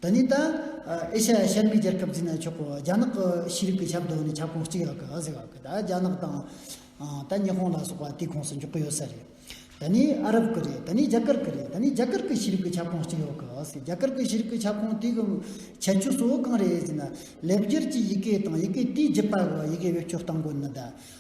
Speaker 1: ད་ནི་ད་ཨེ་ཤ་ཡ་ཤར་མའི་རྒྱལ་ཁབ་འཛིན་ན་ཆོག་གོ་རྒྱ་ནག་གི་ཤེས་རིག་པའི་ཁྱབ་སྡོད་ནི་ཁྱབ་ཁོངས་གཅིག་ཡག་གི་ཨ་ཟེར་བ་གི་ད་རྒྱ་ནག་དང་ད་ཉི་ཧོང་ལ་སོགས་པ་དེའི་ཁོངས་སུ་འཇོག་གི་ཡོད་ས་རེད། ད་ནི་ཨ་རབ་གི་རེད་ད་ནི་རྒྱ་གར་གི་རེད་ད་ནི་རྒྱ་གར་གི་ཤེས་རིག་པའི་ཁྱབ་ཁོངས་གཅིག་ཡོག་གི་ཨ་ཟེར་རྒྱ་གར་གི་ཤེས་རིག་པའི་ཁྱབ་ཁོངས་དེ་གི་ཁྱད་ཆོས་གཙོ་བོ་གང་རེད་ཟེར་ན་ལེབ་སྒྱུར་གྱི་ཡི་གེ་དང་ཡི་གེ་དེའི་རྒྱུད་པ་གི་ཡི་གེ་བེད་སྤྱོད་གཏང་དགོས་ནི་ད་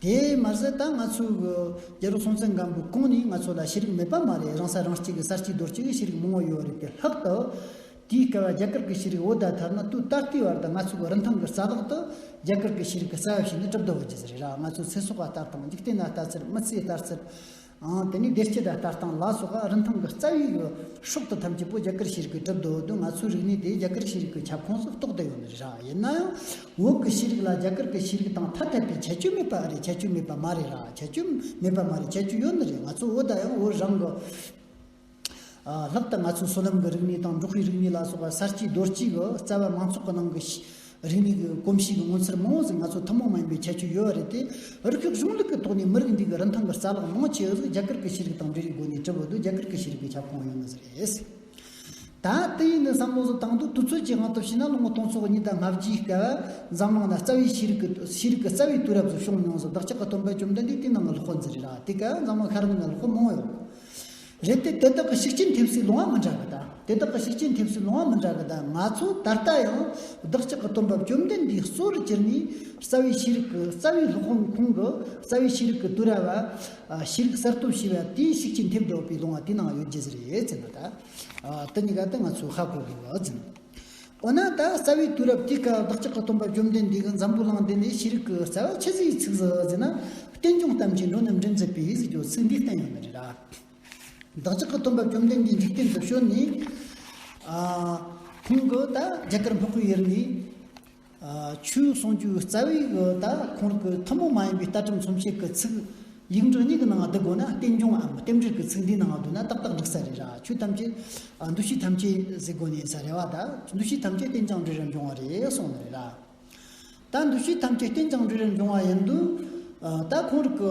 Speaker 1: དེས་མ་ཟད་ད་ང་ཚོའི་རྒྱལ་རོགས་སྲོང་བཙན་སྒམ་པོའི་གོང་ནས་ང་ཚོ་ལ་ཤེས་རིག་མེད་པ་མ་རེད་རང་ས་རང་སྐྱིད་གི་གསར་སྐྱིད་རྡོར་སྐྱིད་ཀྱི་ཤེས་རིག་མང་བོ་ཡོད་རེད་པས་ལྷག་ཏུ། དེའི་སྐལ་བ་རྒྱ་གར་གྱི་ཤེས་རིག་འོད་ཟླ་དར་ནག་ཏུའུ་ད་ལྟའི་བར་དུ་ང་ཚོའི་རིན་ཐང་གི་རྩ་བརླག་ཏུ། རྒྱ་གར་གྱི་ཤེས་རིག་གི་རྩ་བ་ཞིག་ནི་གྲུབ་མདོ་བར་གྱི་རི་རག་ང་ཚོའི་ཚེ་སྲོག་བ་ལྟར་དང་འཇིག་རྟེན་ན་ལྟ་ཚུལ་མི་ཚེའི་ལྟར་ཚུལ། ཨང། དེ་ནས་བདེ་སྐྱིད་དང་ལྟ་སྟངས་ལ་སོགས་ཨ་རིན་ཐང་གི་རྩ་བའི་ཡོ་ཧྲུག་ཏུ་ཐམས་ཅད་པོ་རྒྱ་གར་ཤེས་རིག་གི་གྲུབ་འདོད་དུ་ང་ཚོའི་རིག་གནས་དེ་རྒྱ་གར་ཤེས་རིག་གི་ཁྱབ་ཁོངས་སུ་གཏོགས་བསྡད་ཡོད་ནི་རེད། ཡིན་ན་ཡང་འོག་གི་ཤེས་རིག་ལ་རྒྱ་གར་གི་ཤེས་རིག་དང་ཐ་དད་པའི་ཁྱད་ཆོས་མེད་པ་ཨ་རེད་ཁྱད་ཆོས་མེད་པ་མ་རེད་ར་ཁྱད་ཆོས་མེད་པ་མ་རེད་ཁྱད་ཆོས་ཡོད་ནི་རེད་ང་ཚོ་འོ་ད་ཡང་འོ་རང་གི་ལྷག་ཏུ་ང་ཚོའི་སོ་ནམ་གྱི་རིག་གནས་དང་འབྲོག་ཁུལ་རིག་གནས་ལ་སོགས་པ་གསར་སྐྱེས་རྡོ་སྐྱེས་ཀྱི་རྩ་བའི་མང་ཚོགས་ཀྱི་ནང་གི་རིག་གནས་ཀྱི་གོམས་གཤིས་ཀྱི་ངོ་མཚར་མང་བོ་ཟིག་ང་ཚོ་ཐུན་མོང་མ་ཡིན་པའི་ཁྱད་ཆོས་ཡོད་པ་རེད་དེ། རིགས་དྲུག་གཞུང་ལུགས་ཀྱི་ཐོག་ནས་མི་རིགས་འདིའི་རིན་ཐང་གི་རྩ་ལག་མང་ཆེ་བ་ཟིག་རྒྱ་གར་གྱི་ཤེས་རིག་དང་འབྲེལ་བའི་སྒོ་ནས་གྲུབ་པོ་འདུག་རྒྱ་གར་གྱི་ཤེས་རིག་གི་ཁྱབ་ཁོངས་ཡོད་ན་ཟེར་རེད། ད་ལྟ་ཡིན་ནའི་བསམ་བློ་ཟིག་བཏང་འདུག་དུས་ཚོད་ཀྱི་དབང་དུ་བྱས་ན་ལོ་ངོ་སྟོང་ཕྱོགས་གཉིས་དང་ལྔ་བརྒྱའི་སྐབས་འཛམ་གླིང་ན་རྩ་བའི་ཤེས་རིག་གི་ཤེས་རིག་གི་རྩ་བའི་དུས་རབས་ཟིག་བྱུང་མྱོང་ཟིག་བདག་ཅག་གི་སྟོན་པ་བཅོམ་ལྡན་འདས་དེའི་ནང་གི་ལོ་འཁོར་འཛིན་རེད་ར་དེ་སྐབས་འཛམ་གླིང་ཤར་ནུབ་ན་ལོ་འཁོར་མང་བོ་ཡོད། རེད་དེ་དེ་དག་གི་ཤུགས་རྐྱེན་ཐེབས་སའི་ལུང་བ་མི་འདྲ་བ་དང་དེ་དག་གི་ཤུགས་རྐྱེན་ཐེབས་སའི་ལུང་བ་མི་འདྲ་བ་དང་ང་ཚོ་ད་ལྟ་ཡང་བདག་ཅག་གི་དོན་འབབ་བཅོམ་ལྡན་འདས་གཙོ་བོར་གྱུར་ནས་རྩ་བའི་ཤེས་རིག་གི་རྩ་བའི་སློབ་དཔོན་ཁོང་གི་རྩ་བའི་ཤེས་རིག་གི་དུས་ར་བ། ཤེས་རིག་གསར་གཏོད་བྱས་པ་དེའི་ཤུགས་རྐྱེན་ཐེབས་འདོད་པའི་ལུང་བ་དེ་ནང་ཡོད་རྒྱུ་རེད་ཟེར་ན་ད་ལྟ་གཉིས་ཀ་དེ་ང་ཚོས་ཧ་གོ་དགོས་པ་ཟིན། འོ་ན་ད་རྩ་བའི་དུས་རབས་ཀྱི་ཀ་བདག་ཅག་གི་སྟོན་པ་བཅོམ་ལྡན་འདས་ཀྱི་འཛམ་བུ་གླིང་འདི་ནས་ཤེས་རིག་གི་རྩ་བ་ཆེ་ཚིག་ཚིག་ཟིག་ཟིན་ན་རྟེན་འབྱུང་གཏམ་གྱི་འགྲོ་ནི་འབྲེལ་མཛད་པས་ཡིད་སྐྱོ་ཚིག་འདི་བསྟན་ཡོད་མེད་རེ་ར། བདག་ཅག་གི་སྟོན་པ་བཅོམ་ལྡན་འདས་འཇིག་རྟེན་དུ་བྱོན་ནས། ཁོང་གིས་ད་རྒྱ་གར་སྨུག་པོའི་ཡུལ་ནས། ཆུའི་གསུང་རྒྱུའི་རྩ་བའི་ཡིག་ཡོད་ད་ཁོང་གི་ཐུན་མོང་མ་ཡིན་པའི་རྟ་གྲིམ་ཚོམ་ཤེས་ཀྱི་ཚིག། ཡིག་འབྲུ་གཉིས་ཀྱི་ནང་བསྡུ་དགོས་ན་རྟེན་འབྱུང་ངམ་རྟེན་འབྲེལ་གྱི་ཚིག་འདིའི་ནང་བསྡུ་ན་ཏག་ཏག་འགྲིག་ས་རེད་ར་ཆོས་ཐམས་ཅད། འདུ་ཤེས་ཐམས་ཅད་ཟེར་དགོས་ནས་ས་རེད་བ་ད་འདུ་ཤེས་ཐམས་ཅད་རྟེན་ཅིང་འབྲེལ་རེར་འབྱུང་བ་རེད་གསུང་ནི་རེད་ར། ད་འདུ་ཤེས་ཐམས་ཅད་རྟེན་ཅིང་འབྲེལ་རེར་འབྱུང་བ་ཡིན་དུས། ད་ཁོང་གི།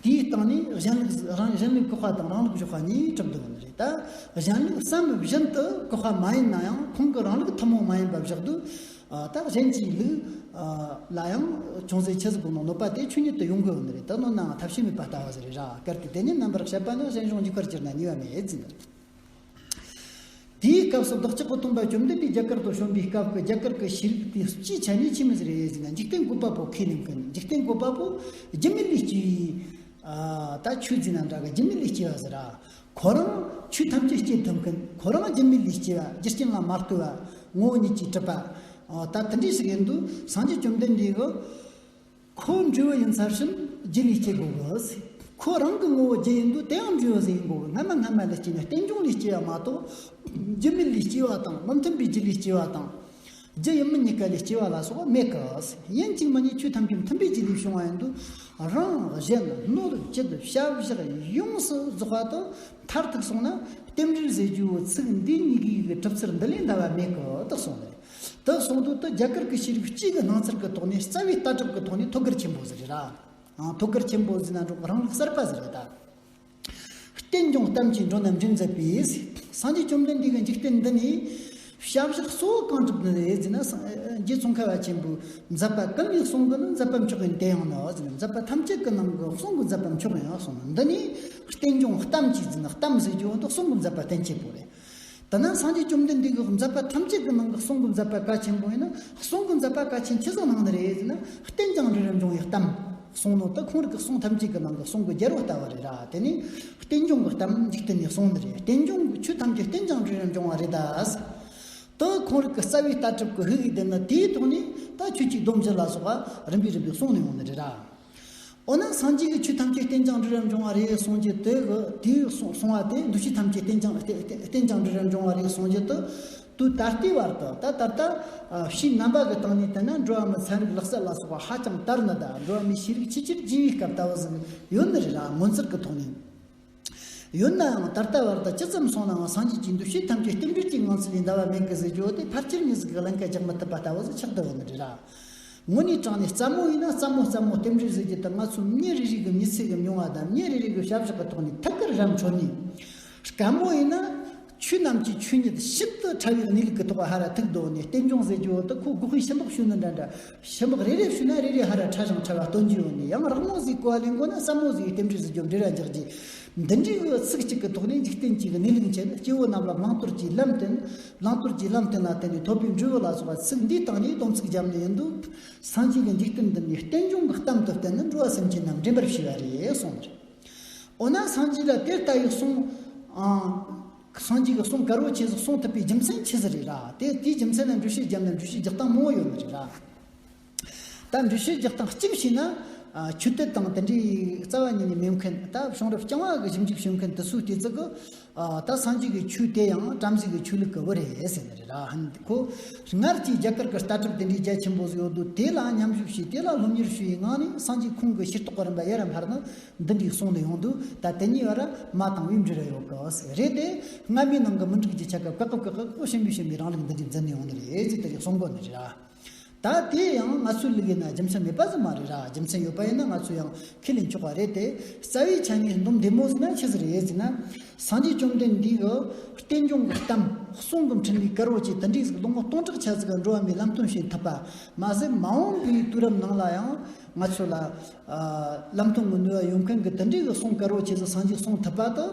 Speaker 1: དེའི་སྟེང་ནས་གཞན་ལུགས་རང་གཞན་ལུགས་གོ་བ་དང་རང་ལུགས་གཞོག་བ་གཉིས་གྲུབ་འདུག་ལ་རེད་ད། གཞན་ལུགས་སམ་གཞན་དུ་གོ་བ་མ་ཡིན་ན་ཡང་ཁོང་གི་རང་ལུགས་ཐུན་མོང་མ་ཡིན་པ་བཞག་འདུག་ད། གཞན་གྱི་ལུགས་ལ་ཡང་ཅུང་ཟད་ཁྱད་གསོད་དགོས་ན་གནོད་པ་དེ་ཆོས་ཉིད་དུ་ཡོང་དགོས་ལ་རེད་ད་གནོད་ནའང་ཐབས་ཤེས་མེད་པ་ལྟ་བ་ཟེར་རེད་ར། གལ་ཏེ་དེ་ཉིད་རྣམ་པར་བཤད་པ་ན་གཞན་གཞུང་གཉིས་ཀར་གྱུར་ན་ཉེས་བ་མེད་ཟེར། དེའི་སྐབས་སུ་རྡོ་རྗེ་སྐུ་སྟོང་པ་བཅོམ་ལྡན་འདས་རྒྱ་གར་དུ་བྱོན་པའི་སྐབས་ཀྱི་རྒྱ་གར་གྱི་ཤེས་རིག་དེ་སྤྱིའི་ཆ་ནས་ཕྱི་མི་ཟེར་ཡས་ཟིན་ན་འཇིག་རྟེན་མགོན་པ་པོ་ཁས་ལེན་དཀའ་ནས་འཇིག་རྟེན་མགོན་པ་པོ་རྗེ་མི་ལུས་སྐྱེས། ད་ཆོས་འཛིན་ན་འདྲ་གི་རྗེ་མི་ལུས་སྐྱེས་པ་ཟེར། ཁོ་རང་ཆོས་ཐམས་ཅད་སྐྱེལ་ཐུབ་མཁན་ཁོ་རང་རྗེ་མི་ལུས་སྐྱེས་པ་རྒྱུ་རྐྱེན་ལ་མ་ལྟོས་པར་ངོ་བོ་ཉིད་ཀྱིས་གྲུབ་པ། ད་དེ་འདྲས་ཞིག་ཡིན་དུས་སངས་རྒྱས་བཅོམ་ལྡན་འདས་ཀྱི། ཁོ་འཇུ་བ་ཡིན་ཚར་ཕྱིན་རྒྱུ་ལས་སྐྱེ་དགོས་གི། ཁོ་རང་གི་ངོ་བོ་རྒྱུ་ཡིན་དུས་དེའང་འཇུ་བ་ཟེར་ཡིན་དགོས་གི་སྔ་མ་སྔ་མ་ལས་སྐྱེ་ནས་རྟེན་འབྱུང་ལས་སྐྱེ་བ་མ་གཏོགས། རྒྱུ་མི་ལས་སྐྱེ་བ་དང་མི་མཐུན་པའི་རྒྱུ་ལས་སྐྱེ་བ་དང། རྒྱུ་ཡིན་མིན་གཉིས་ཀ་ལས་སྐྱེ་བ་ལ་སོགས་མེད་གི། ཡིན་གཅིག་མིན་གཉིས་ཆོས་ཐམས་ཅད་མཐུན་པའི་རྒྱུ་ལས་བྱུང་བ་ཡིན་དུས། རང་གཞན་སྣོད་བཅུད་ཞབས་བཞག་ཡོངས་སུ་རྫོགས་པ་དང་མཐར་ཐུག་སོང་ན། རྟེན་འབྲེལ་ཟེར་རྒྱུའོ་ཚིག་འདི་གཉིས་ཀའི་གྲུབ་ཚུལ་འདི་ལས་འདའ་བ་མེད་གི་དག་སོང་བས། དེ་གསུང་དོན་དུ་རྒྱ་གར་གྱི་ཤེས་རིག་སྤྱིའི་གི་སྣང་ཚུལ་གྱི་ཐོག་ནས་རྩ་བའི་ལྟ་གྲུབ་ཀྱི་ཐོག་ནས་ཐུགས་ཀར་ཆེན་པོ་ཟེར་རེད་ད། ཐུགས་ཀར་ཆེན་པོ་ཟེར་ན་འགྲོ་རང་ལུགས་གསར་པ་ཟེར་རེད་ད། རྟེན་འབྱུང་གཏམ་གྱིས་འགྲོ་རྣམས་འདྲེན་མཛད་པའི། སངས་རྒྱས་བཅོམ་ལྡན་འདས་ཀྱི་འཇིག་རྟེན་འདི་ནི། ཞབས་བཞག་གཙོ་བོ་གང་གྲུབ་ནི་རེད་ཟེར་ན། རྗེ་ཙོང་ཁ་བ་ཆེན་པོས་མཛད་པ་གང་ཡིན་གསུང་གི་ནི་མཛད་པ་མཆོག་ཡིན་དེ་ཡང་ནི་ཟེར་ནས་མཛད་པ་ཐམས་ཅད་ཀྱི་ནང་གི་གསུང་གི་མཛད་པ་མཆོག་ཡིན་གསུང་འདི་ནི། རྟེན་འབྱུང་གཏམ་གྱིས་ཟེར་ན་གཏམ་ཟེར་རྒྱུ་འདི་གསུང་གི་མཛད་པ་བསྟན་ཆེན་པོ་རེད། ད་ནངས་སངས་རྒྱས་བཅོམ་ལྡན་འདས་ཀྱི་མཛད་པ་ཐམས་ཅད་ཀྱི་ནང་གི་གསུང་གི་མཛད་པ་གལ་ཆེན་པོ་ཡིན་ན་གསུང་གི་མཛད་པ་གལ་ཆེན་ཇི་ཙམ་ནང་ན་རེད་ཟེར་ན་བསྟན་ཀྱང་རེ་རེར་འབྱུང་བའི་གཏམ་གསུང་ནོ་ད་ཁོང་རིགས་ཀྱི་གསུང་ཐམས་ཅད་ཀྱི་ནང་གི་གསུང་གི་རྒྱལ་བོ་ལྟ་བ་རེད་ར་དེ་ནི་བསྟན་འབྱུང་གི་གཏམ་འཇིག་རྟེན་ནས་གསུང་ནི་རེད་བསྟན་འབྱུང་གི་ཆོས་ཐམས་ཅད་བསྟན་ཀྱང་རེ་རེར་འབྱུང་བ་རེད་ད། ད་ཁོང་རིགས་ཀྱི་རྩ་བའི་ལྟ་གྲུབ་ཀྱི་ཧི་ཨི་ལྡན་ན་དེའི་ཐོག་ནས་ད་ཁྱོད་ཀྱིས་སྡོམ་བཞི་ལ་སོགས་པ་རིམ་པས་རིམ་པས་གསུང་ནི་ཡོང་ནི་རེད་ར། འོ་ན་སངས་རྒྱས་ཀྱི་ཆོས་ཐམས་ཅད་རྟེན་སྦྱང་འབྲུ་རེར་འབྱུང་བ་རེད་གསུངས་རྒྱུ་དེ་དུས་གསུངས་བ་དེ་འདུ་བྱེད་ཐམས་ཅད་རྟེན་སྦྱང་རྟེན་སྦྱང་འབྲུ་རེར་འབྱུང་བ་རེད་གསུངས་རྒྱུ་དུ་དུས་ད་ལྟའི་བར་དུ་ད་ད་ལྟ་བཞིན་རྣམ་པ་གི་སྟེང་ནས་བལྟས་ན་འགྲོ་བ་མི་ཚན་རིག་ལག་རྩལ་ལ་སོགས་པ་ཧ་ཅང་དར་ནི་གདའ་འགྲོ་བ་མིའི་ཤེས་རིག་ཕྱི་ཕྱིར་རྗེས་ཡི་སྐབས་ལྟ་བུ་ཟིན་ཡོད་ནི་རེད་ལ་ངོ་མཚར་གི་ཐོག་ནས། ཡོད་ནའང་ད་ལྟ་བར་དུ་ཇི་ཙམ་སོང་ནའང་སངས་རྒྱས་ཀྱི་འདུ་ཤེས་ཐམས་ཅད་རྟེན་འབྲེལ་གྱི་ངང་ཚུལ་ལས་འདའ་བ་མེད་གི་ཟེར་རྒྱུ་དེ་ཕར་ཆེར་གཉིས་སུ་གི་བླང་བྱ་རྒྱག་མི་ཐུབ་པ་ལྟ་བུ་ཟིག་ཆགས་བསྡད་པ་ནི་རེད་ལགས། ངོ་ནས་དྲངས་ནས་རྩ་མོ་ཡིན་ན་རྩ་མོ་རྩ་མོ་རྟེན་འབྲེལ་ཟེར་རྒྱུ་དེ་ང་ཚོ་མི་རེ་རེས་གི་མི་ཚེ་གི་མྱོང་བ་དང་མི་རེ་རེས་གི་ཞབས་ཞུ་གི་ཐོག་ནས་ཐུགས་ཀར་བཞག་མཆོག་ནས། སྐམ་མོ་ཡིན་ན། ཆོས་རྣམས་ཀྱི་ཆོས་ཉིད་ཤིན་ཏུ་ཕྲ་བའི་གནས་ལུགས་ཀྱི་ཐོག་པ་ཧ་ར་ཐུག་རྡོ་ནས་རྟེན་འབྱུང་ཟེར་གྱི་འོག་ཏུ་ཁོ་དགུ་ཧི་ཤི་མདོག་ཤུ་ནི་འདྲ་འདྲ། ཤི་མདོག་རེ་རེར་ཞུ་ན་རེ་རེ་ཧ་ར་ཕྲ་ཞིང་ཕྲ་བ་སྟོན་གྱི་ཡོད་ནས་ཡང་རག་མོ་ཟིའི་གོ་ལའི་མགོ་ན་སྲབ་མོ་ཟིའི་ལྟེམ་འབྲུ་ཟིའི་རྒྱོབ་འབྲི་ར་འཇགས་རྗེས། འདི་འདྲའི་འོད་ཚིག་ཅིག་གི་ཐོག་ནས་འཇིག་རྟེན་གྱི་གནས་ལུགས་འཆད་སྐྱེ་བོ་རྣམས་ལ་བླང་དོར་གྱི་ལམ་སྟོན། བླང་དོར་གྱི་ལམ་སྟོན་ལ་བརྟེན་ནས་ཐོབ་པའི་འབྲས་བུ་ལ་སོགས་པ་ཚིག་འདིའི་སྟེང་ནས་སྡོམ་ཚིག་བརྒྱབ་ནས་ཡིན་འདུག་སངས་རྒྱས་ཀྱི་འཇིག་རྟེན་འདི་ནི་རྟེན་འབྱུང་གི་གཏམ་དུ་བསྟན་ནས་འགྲོ་བ་སེམས་ཅན་རྣམས་འདྲེན་པར་བྱས་པ་རེད་གསུངས་པ་རེད། འོ་ན་སངས་རྒྱས་ལ་དེ་ལྟ་བུའི་གསུང། སངས་རྒྱས་ཀྱི་གསུང་དཀར་བོ་ཁྱེད་ཚོས་གསུང་ཐུབ་པའི་རྒྱུ་མཚན་ཅི་ཟེར་རེད་ར། དེ་དེའི་རྒྱུ་མཚན་ལ་འགྲུལ་བཞུད་བརྒྱབ་ན་འགྲུལ་བཞུད་རྒྱག་སྟངས་མང་བོ་ཡོད་ནི་རེད་ར། ད་འགྲུལ་བཞུད་རྒྱག་སྟངས་གཅིག་ཤེས་ན། ཆོས་དད་དང་དེ་འདྲའི་རྩ་བ་ཉིད་ནས་མེད་མཁན། ད་གཞུང་རབ་རྐྱང་བ་གི་ཞིབ་འཇུག་བྱེད་མཁན་དེ་ཚོའི་ལྟོས་ཚིག་གི། ད་སངས་རྒྱས་ཀྱི་ཆོས་དེ་ཡང་བྲམ་ཟེ་ཀྱི་ཆོས་ལས་གོལ་བོ་རེད་ཟེར་ནི་རེད་ར། ཁོ། སྔར་གྱི་རྒྱ་གར་གྱི་ལྟ་གྲུབ་དེ་འདྲའི་རྒྱ་ཆེན་པོ་ཟིག་ཡོད་འདུག་དེ་ལ་མཉམ་ཞུགས་བྱས་དེ་ལ་སློབ་གཉེར་ཞུ་ཡི་ངང་ནས་སངས་རྒྱས་ཁོང་གི་ཤེར་རྟོགས་རིམ་པ་ཡར་རམ་ལྷར་ན་འདི་འདྲའི་གསུང་དེ་ཡོང་འདུག་ད་དེ་གཉིས་བར་མ་དང་དབྱིབས་འབྲེལ་རེ་ཡོད་གི། རེད་དེ། སྔ་མའི་ནང་གི་མི་འགྲིག་ཀྱི་ཆ་ག་བཀག་གི་བཀག་གི་ཁོ་ཤེས་མི་ཤེས་མི་རང་ལུགས་འདི་འདྲའི་འཛིན་ནས་ཡོང་ནི་རེད་ཅེས་དེ་རིང་གསུང་དགོས་ནི་རེད་ར། ད་དེ་ཡང་ང་ཚོའི་ལུགས་ཡིན་ན་རྒྱུ་མཚན་མེད་པ་ཙམ་མ་རེད་ར་རྒྱུ་མཚན་ཡོད་པ་ཡིན་ན་ང་ཚོ་ཡང་ཁས་ལེན་ཆོག་པ་རེད་དེ་རྩ་བའི་ཆ་ངས་འདོམས་བདེ་མོ་ཟེར་ན་ཁྱེད་ཟེར་ཡས་ཟེར་ན་སངས་རྒྱས་བཅོམ་ལྡན་འདས་ཀྱི་བསྟན་སྐྱོང་གི་གཏམ་གསུང་གི་འཕྲིན་ལས་དཀར་བོ་བཅས་ད་འགྲིག་ཟིག་ལོ་ངོ་སྟོང་ཕྲག་ཆགས་ཟིག་འགྲོ་བ་མིའི་ལམ་སྟོན་བྱེད་ཐུབ་པ་མ་ཟད་མ་འོངས་པའི་དུས་རབས་ནང་ལ་ཡང་ང་ཚོ་ལ་ལམ་སྟོན་གྱི་ནུས་བ་ཡོད་མཁན་གྱི་ད་འགྲིག་གི་གསུང་དཀར་བོ་བཅས་ཟིག་སངས་རྒྱས་གསུང་ཐུབ་པ་དང